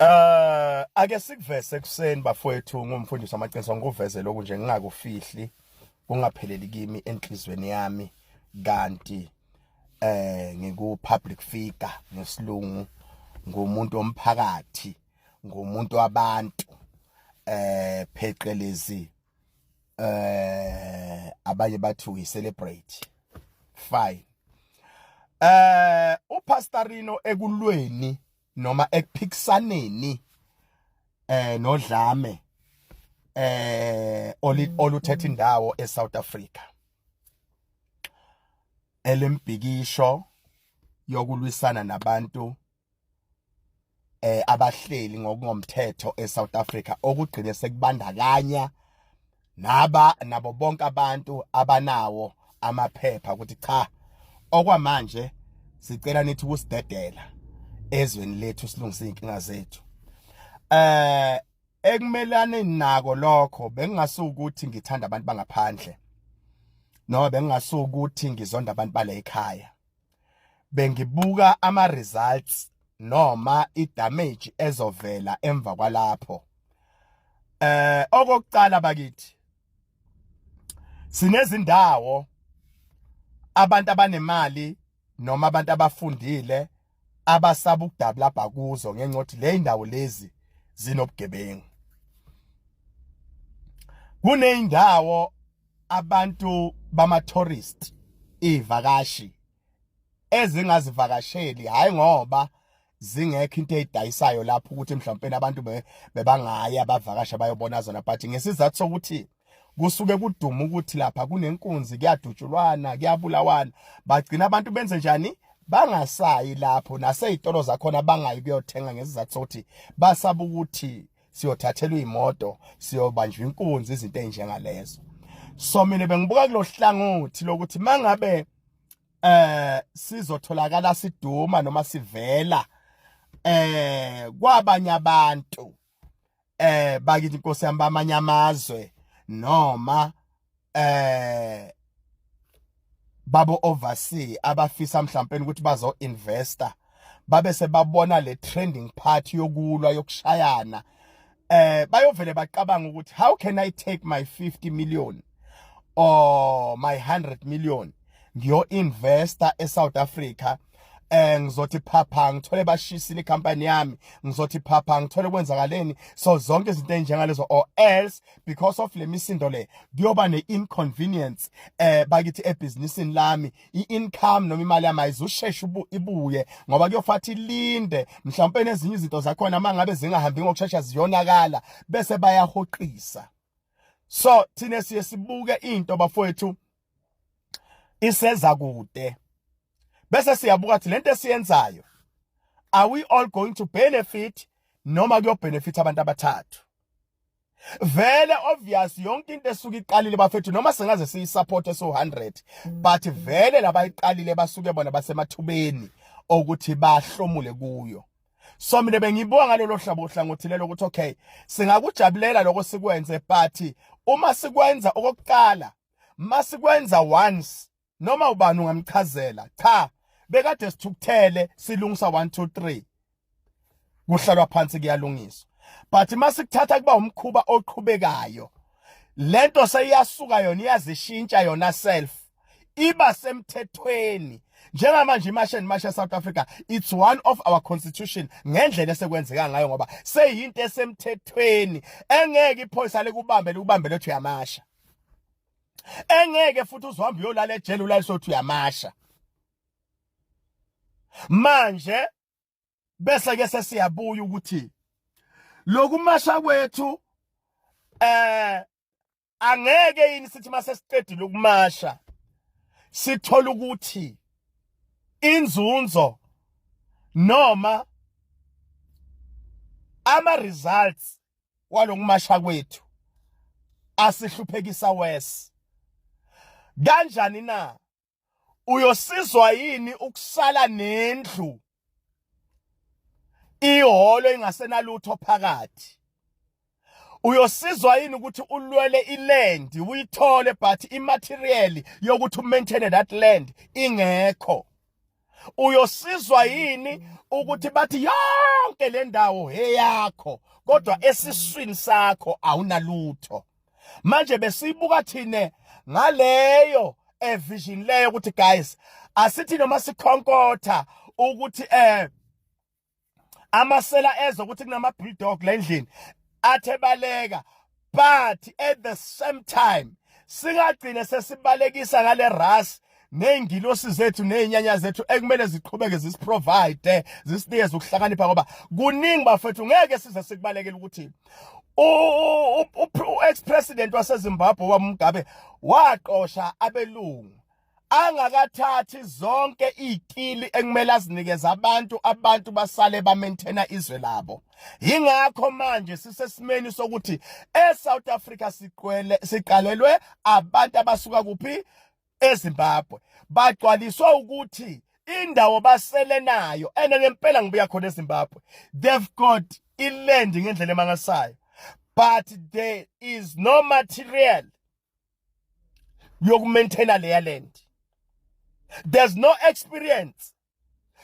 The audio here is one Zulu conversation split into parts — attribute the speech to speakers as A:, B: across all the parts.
A: Eh ake sikuvese ekuseni bafowethu ngumfundisi amaqiniso ngikuveze lokhu nje ngingakufihli kungapheleli kimi enhlizweni yami kanti eh ngiku public figure ngesilungu ngumuntu omphakathi ngumuntu wabantu eh pheqelezi eh abanye bathi we celebrate fine eh upastorino ekulweni noma ekuphikisaneni eh nodlame eh oluthetha indawo eSouth Africa elembhikisho yokulwisana nabantu eh abahleli ngokungomthetho eSouth Africa okugcine sekubandakanya naba nabo bonke abantu abanawo amaphepha ukuthi cha okwamanje sicela nithi ukusidedela ezweni lethu silungise inkinga zethu eh ekumelane nako lokho bengingasukuthi ngithanda abantu bangaphandle noma bengingasukuthi ngizonda abantu bale ekhaya bengibuka ama results noma i damage ezovela emva kwalapho eh okokuqala bakithi sinezindawo abantu abanemali noma abantu abafundile abasaba ukudabula bhakuzo ngenxa ukuthi le indawo lezi zinobugebengu kuneyindawo abantu bama tourist ivakashi ezingazivakasheli hayi ngoba zingekho into eyidayisayo lapho ukuthi mhlawumbe abantu bebangaya bavakasha bayobona zona but ngesizathu sokuthi kusuke kuduma ukuthi lapha kunenkunzi kuyadutshulwana kuyabulawana bagcina abantu benze njani bangasayi lapho naseyitolo zakhona bangayi kuyothenga ngesizathu sokuthi basaba ukuthi siyothathelwa imoto siyobanjwa inkunzi izinto ezinjengalezo so mina bengibuka kulohlangothi lokuthi mangabe eh sizotholakala siduma noma sivela eh kwabanye abantu eh bakithi inkosi yami bamanye amazwe noma eh babo oversee abafisa mhlawumbe ukuthi bazo investor babe sebabona le trending part yokulwa yokushayana eh bayovele bacabanga ukuthi how can i take my 50 million or my 100 million ngiyo investor eSouth Africa eh ngizothi phapha ngithole bashisini company yami ngizothi phapha ngithole kwenzakaleni so zonke izinto enjengalezo or else because of lemisindo le kuyoba ne inconvenience eh bakithi ebusinessini lami i-income noma imali yami ayizusheshe ibuye ngoba kuyofathi linde mhlawumbe nezinye izinto zakhona mangabe zingahambi ngokushesha ziyonakala bese bayahoqisa so thina siye sibuke into bafowethu iseza kude bese siyabuka ukuthi lento esiyenzayo are we all going to benefit noma kuyobenefit abantu abathathu vele obvious yonke into esuke iqalile bafethu noma singaze siyisupport eso 100 but vele labayiqalile basuke bona basemathubeni okuthi bahlomule kuyo so mina bengibuka ngalelo hlabo hlangothi lelo ukuthi okay singakujabulela lokho sikwenze but uma sikwenza okokuqala masikwenza once noma ubani ungamchazela cha bekade sithukuthele silungisa 1 2 3 kuhlalwa phansi kuyalungiswa but masikuthatha kuba umkhuba oqhubekayo lento seyiyasuka yona iyazishintsha yona self iba semthethweni njengamanje imashe nemashe South Africa it's one of our constitution ngendlela esekwenzeka ngayo ngoba seyinto esemthethweni engeke iphoyisa likubambe likubambe lothu yamasha engeke futhi uzohamba uyolala ejele ulayisothi uyamasha manje bese ke sesiyabuya ukuthi lokumasha kwethu eh angeke yini sithi mase siqedile ukumasha sithola ukuthi inzunzo noma ama results walokumasha kwethu asihluphekisa wes kanjani na uyosizwa yini ukusala nendlu iholo ingasenalutho phakathi uyosizwa yini ukuthi ulwele iland uyithole but imaterial yokuthi umaintain that land ingekho uyosizwa yini ukuthi bathi yonke le ndawo eyakho kodwa esiswini sakho awunalutho manje besibuka thina ngaleyo evision leyo ukuthi guys asithi noma sikhonkotha ukuthi eh amasela ezwe ukuthi kunama bulldog la endlini athe baleka but at the same time singagcine sesibalekisa ngale ras nezingilosi zethu nezinyanya zethu ekumele ziqhubeke zisiprovide zisinikeze ukuhlakanipha ngoba kuningi bafethu ngeke size sikubalekele ukuthi u-ex president wasezimbabwe wamugabe waqosha abelungu angakathathi zonke ikili ekumele azinikeze abantu abantu basale ba maintain izwe labo ingakho manje sisesimeni sokuthi e South Africa siqwele siqalelwe abantu abasuka kuphi eZimbabwe bagcwaliswa ukuthi indawo basele nayo ene ngempela ngibuya khona eZimbabwe they've got iland ngendlela emangasayo but there is no material yokumaintaina leya land there's no experience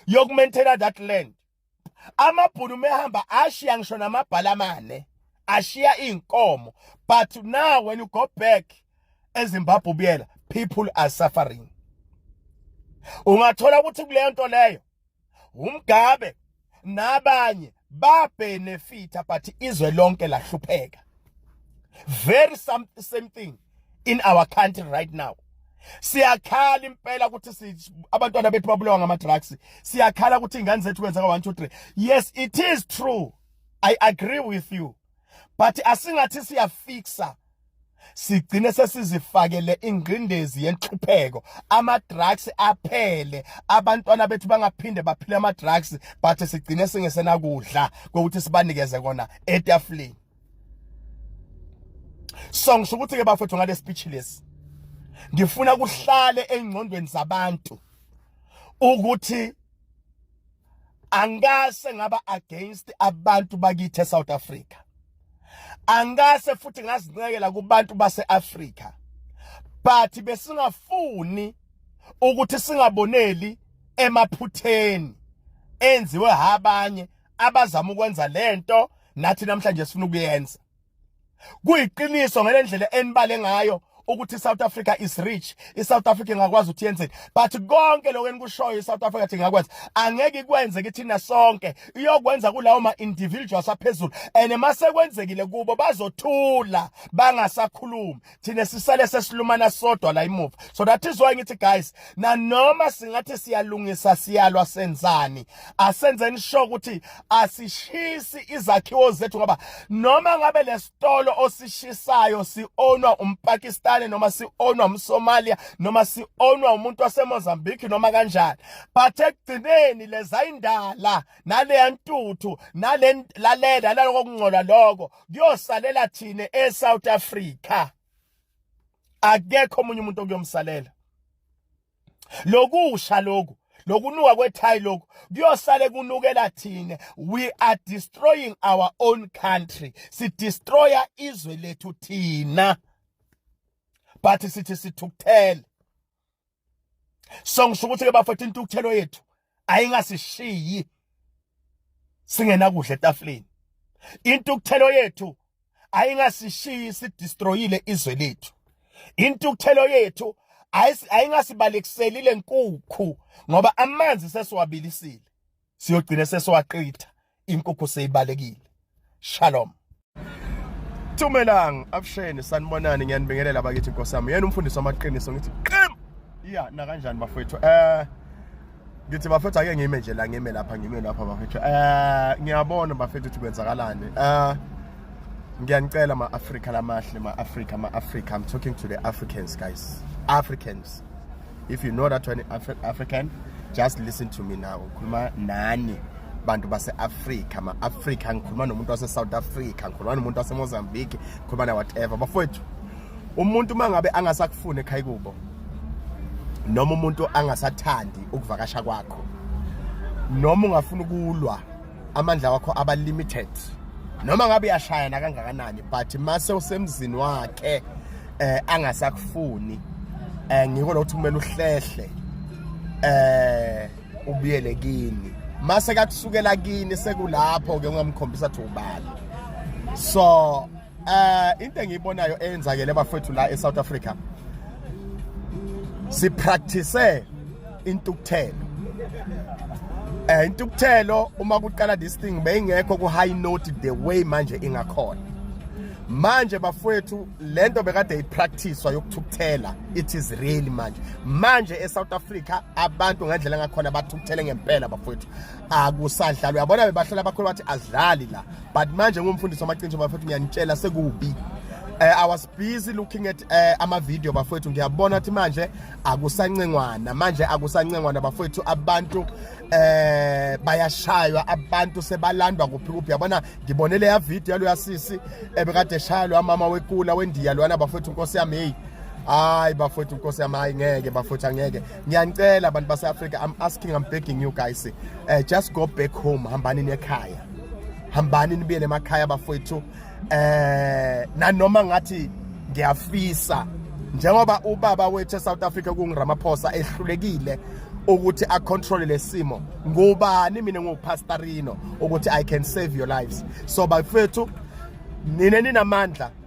A: yokumaintaina that land amabhunu mehamba ashiya ngisho namabhala amane ashiya inkomo but now when you go back ezimbabwe ubuyela people are suffering ungathola ukuthi kuleyo nto leyo uMgabe nabanye babhenefitha but izwe lonke lahlupheka very some, same thing in our country right now siyakhala impela ukuthi abantwana bethu babulawa ngama drugs siyakhala ukuthi ingane zethu kwenzeka 1 2 3 yes it is true i agree with you but asingathi siyafixa sigcine sesizifakele ingqindezi yenhlupheko ama drugs aphele abantwana bethu bangaphinde baphile ama drugs but sigcine singesenakudla kokuthi sibanikeze kona etafuleni so ngisho ukuthi ke bafethu ngale speech lesi ngifuna kuhlale engqondweni zabantu ukuthi angase ngaba against abantu bakithi eSouth Africa angase futhi ngazincekela kubantu baseAfrica but besingafuni ukuthi singaboneli emaphutheni enziwe abanye abazama ukwenza lento nathi namhlanje sifuna ukuyenza kuyiqiniso ngelendlela enibale ngayo ukuthi iSouth Africa is rich iSouth Africa ingakwazi ukuthi yenzeni but konke lokho enikushoyo iSouth Africa thi ngakwazi angeke ikwenze kithina sonke iyokwenza kulawo ma individuals aphezulu and masekwenzekile kubo bazothula bangasakhulumi thina sisale sesilumana sodwa la imuva so that is why ngithi guys nanoma singathi siyalungisa siyalwa senzani asenzeni sho ukuthi asishisi izakhiwo zethu ngoba noma ngabe lesitolo osishisayo sionwa umpakistani noma sionwa umsomalia noma sionwa umuntu wasemozambique noma kanjani but ekugcineni lezayindala naleya ntuthu nale lalela naloko kungcola lokho kuyosalela thina eSouth Africa akekho omunye umuntu okuyomsalela lokusha lokhu lokunuka kwethayi lokhu kuyosale kunukela thina we are destroying our own country sidestroya izwe lethu thina but sithi sithukuthele so ngisho ukuthi ke bafethu intukuthelo yethu ayingasishiyi singenakudla etafuleni intukuthelo yethu ayingasishiyi sidestroyile izwe lethu intukuthelo yethu ayingasibalekiseli lenkukhu ngoba amanzi sesiwabilisile siyogcina sesiwaqitha inkukhu seyibalekile shalom Thumelang abusheni sanibonani ngiyanibingelela bakithi Nkosi yami yena umfundisi wamaqiniso ngithi qim iya na kanjani bafethu eh ngithi bafethu ake ngime nje la ngime lapha ngime lapha bafethu eh ngiyabona bafethu ukuthi kwenzakalani eh ngiyanicela ma Africa lamahle ma Africa ma Africa I'm talking to the Africans guys Africans if you know that one Afri african just listen to me now ukhuluma nani bantu base-afrika ma-afrika ngikhuluma nomuntu wase-south africa ngikhuluma nomuntu wasemozambique ngikhuluma na-whatever bafowethu umuntu uma ngabe angasakufuni ekhaya kubo noma umuntu angasathandi ukuvakasha kwakho noma ungafuna ukulwa amandla wakho aba limited noma ngabe uyashaya nakangakanani but mase usemzini wakhe eh angasakufuni eh ngiko lo ukuthi kumele uhlehle eh ubuyele kini mase kakusukela kini sekulapho ke ungamkhombisa ukuthi ubani so Eh into engiyibonayo eyenzakele bafethu la eSouth Africa si practice intukuthelo eh intukuthelo uma kuqala this thing beyingekho ku high note the way manje ingakhona manje bafowethu lento bekade ipracticewa yokuthukuthela it is real manje manje eSouth Africa abantu ngendlela ngakhona bathukuthele ngempela bafowethu akusadlalwa yabona bebahlola abakhulu bathi azidlali la but manje ngumfundisi wamaqiniso bafethu ngiyanitshela sekubi Uh, I was busy looking at uh, eh, ama video bafowethu ngiyabona ukuthi manje akusancengwana manje akusancengwana bafowethu abantu eh bayashaywa abantu sebalandwa kuphi kuphi yabona ngibone leya video yalo yasisi ebekade eshaya lo mama wekula wendiya lwana bafowethu inkosi yami hey hayi bafowethu inkosi yami hayi ngeke bafowethu angeke ngiyanicela abantu base-africa i'm asking i'm begging you guys uh, just go back home hambani nekhaya hambani nibuyele emakhaya bafowethu eh nanoma ngathi ngiyafisa njengoba ubaba wethu eSouth Africa kungiRamaphosa ehlulekile ukuthi a control lesimo ngubani mina ngupastorino ukuthi i can save your lives so bafethu nina ninamandla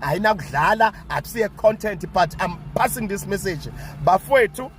A: ayinakudlala akusiye content but i'm passing this message bafowethu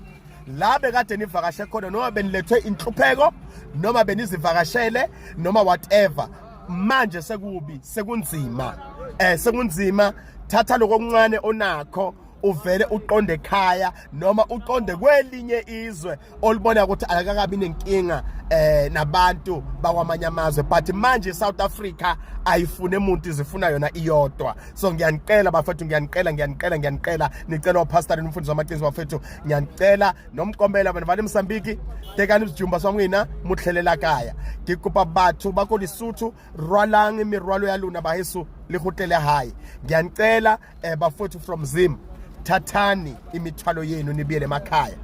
A: la bekade nivakashe khona noma benilethwe inhlupheko noma benizivakashele noma whatever manje sekubi sekunzima eh sekunzima thatha lokuncane onakho uvele uqonde ekhaya noma uqonde kwelinye izwe olubona ukuthi akakabi nenkinga eh nabantu bakwamanye amazwe but manje South Africa ayifune umuntu izifuna yona iyodwa so ngiyanicela bafethu ngiyanicela ngiyanicela ngiyanicela nicela upastor nomfundisi wamaqiniso bafethu ngiyanicela nomkombela bana vale msambiki tekani izijumba swamwina mutlhelela kaya ngikupa batho ba ko Lesotho rwalang mirwalo ya luna baheso le go tlele hae ngiyanicela eh bafowethu from Zim thathani imithwalo yenu nibiyele emakhaya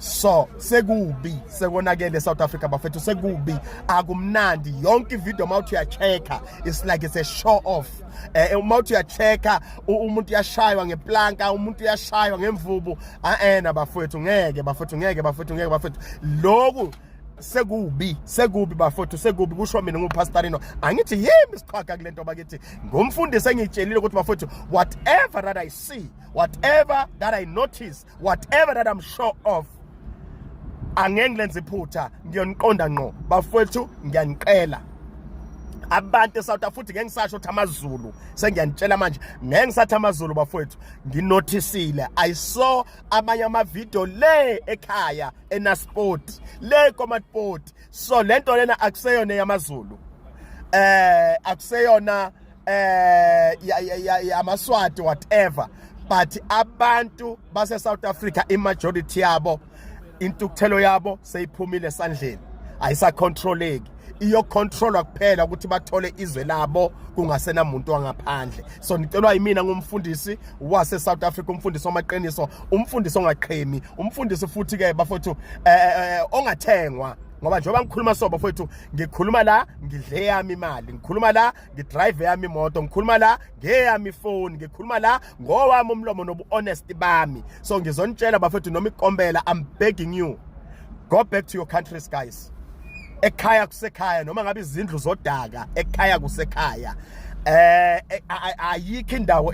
A: so sekubi sekonakele South Africa bafethu sekubi akumnandi yonke ivideo mawuthi uyachecka it's like it's a show off eh, eh mawuthi uyachecka umuntu uyashaywa ngeplanka umuntu uyashaywa ngemvubu aena bafethu ngeke bafethu ngeke bafethu ngeke bafethu lokhu sekubi sekubi bafowethu sekubi kusho mina ngupastorino angithi yimi siqhaga kule nto bakithi ngumfundisi engitshelile ukuthi bafowethu whatever that i see whatever that i notice whatever that i'm sure of angeke ngilenze iphutha ngiyoniqonda ngqo bafowethu ngiyaniqela abantu eSouth Africa futhi ngeke ngisasho ukuthi amaZulu sengiyanitshela manje ngeke ngisathi amaZulu bafowethu nginothisile i saw amanye ama video le ekhaya enasport le komatport so lento lena akuseyona yamazulu eh akuseyona eh yamaswati whatever but abantu base South Africa i majority yabo intukuthelo yabo seyiphumile esandleni ayisacontroleki iyocontrolwa kuphela ukuthi bathole izwe labo kungasena muntu wangaphandle so ngicelwa yimina ngumfundisi wase South Africa umfundisi wamaqiniso umfundisi ongaqhemi umfundisi futhi ke bafowethu eh, eh, eh, ongathengwa ngoba njengoba ngikhuluma so bafowethu ngikhuluma la ngidle yami imali ngikhuluma la ngidrive yami imoto ngikhuluma la ngeyami ifoni ngikhuluma la ngowami umlomo nobu honest bami so ngizonitshela bafethu noma ikombela i'm begging you go back to your countries guys ekhaya kusekhaya noma ngabe izindlu zodaka ekhaya kusekhaya eh, eh ayikho indawo